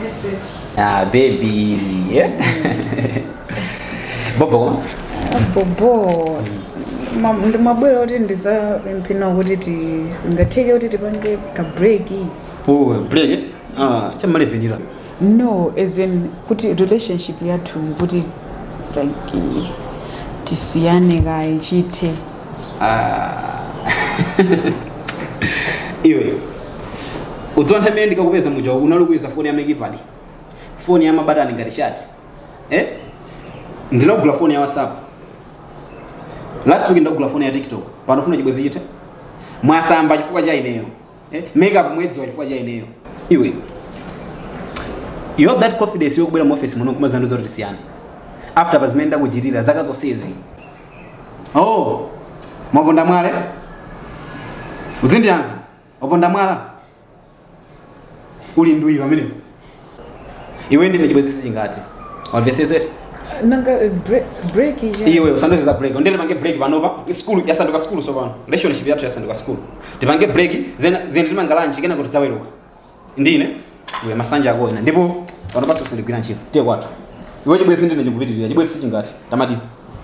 Yes, yes. Ah, baby. Yeah. Bobo. bobo Ma- ndimabwera kuti ndizapemphe nawo kuti sizingatheke kuti tipange ka break Oh, break. Ah, chamalevenira. no as in kuti relationship yathu kuti like eh, tisiyane kaye chithe Ah. iwe udziwa nthawi imene ndikakupeza muja unali kuyuza foni ya ma keypad foni ya mabatani ngati shati eh? ndinakugula foni ya whatsapp last week ndakugula foni ya tiktok pano ufuna chibwezi chithe mwasamba chifukwa cha ineyo eh? makeup mwaidziwa chifukwa cha ineyo iwe you have that confidence yokubwera mu office muno nkumazandiuza zoti tisiyane after pazimene ndakuchitira zaka zonsezi oh mwaponda mwala uzindiyankha waponda mwala uli ndwii pamenepo iwe ndi ine chibwezi sichingathe wamvetsetsa eti nanga eh, bre- break iya iwe usandiuze za break ndiye tipange break panopa skulu yasanduka skulu sopano relationship yathu yasanduka skulu tipange break then then tipanga lunch kenako tidzaweruka ndine iwe masanje ako ena ndipo panopanso sindigwira ntchito tiye kwathu iwe chibwezi ndi ine chikupitirira chibwezi sichingathe tamati